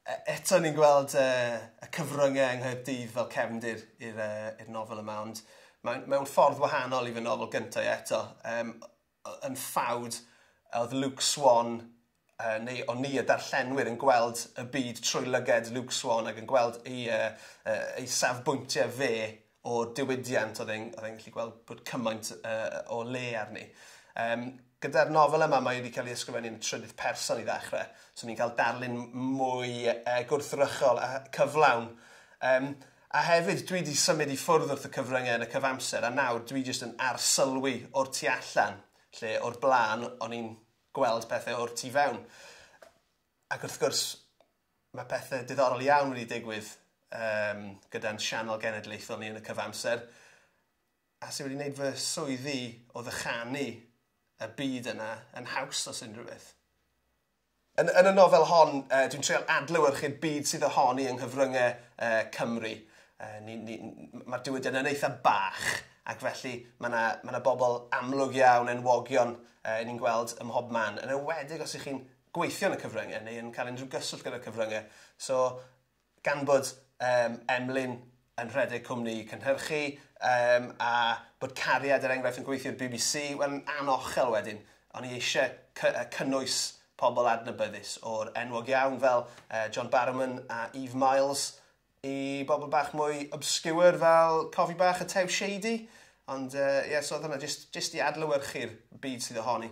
Eto ni'n gweld y cyfryngau yng Nghaerdydd fel cefndir i'r nofel yma, ond mewn ffordd wahanol i fy nofel gyntaf i eto. Yn ffawd, oedd Luke Swan, neu o'n ni y darllenwyr, yn gweld y byd trwy lyged Luke Swan ac yn gweld ei safbwyntiau fe o diwydiant oedd e'n oedd e'n gallu gweld bod cymaint uh, o le arni. Um, gyda'r nofel yma mae wedi cael ei ysgrifennu yn trydydd person i ddechrau, so ni'n cael darlun mwy uh, gwrthrychol a cyflawn. Um, a hefyd, dwi wedi symud i ffwrdd wrth y cyfryngau yn y cyfamser, a nawr dwi jyst yn arsylwi o'r tu allan, lle o'r blaen o'n i'n gweld pethau o'r tu fewn. Ac wrth gwrs, Mae pethe diddorol iawn wedi digwydd um, gyda'n sianel genedlaethol ni yn y cyfamser. A sy'n wedi gwneud fy swyddi o ddychanu y byd yna yn haws os unrhyw beth. Yn, yn y nofel hon, uh, dwi'n treol adlywyrchu'r byd sydd ohoni yng nghyfryngau uh, Cymru. Uh, ni, ni, Mae'r diwydiant yn eitha bach, ac felly mae yna ma bobl amlwg iawn, enwogion, uh, ni'n gweld ym mhob man. Yn ewedig os ych chi'n gweithio yn y cyfryngau neu yn cael unrhyw gyswllt gyda'r cyfryngau. So, gan bod um, Emlyn yn rhedeg cwmni cynhyrchu um, a bod cariad er enghraifft yn gweithio i'r BBC, wel yn anochel wedyn, o'n i eisiau cy cynnwys pobl adnabyddus o'r enwog iawn fel uh, John Barrowman a Eve Miles i bobl bach mwy obscure fel Cofi Bach a Tew Shady. Ond ie, uh, yeah, so oedd hwnna jyst, jyst i adlywyrchu'r byd sydd ohoni.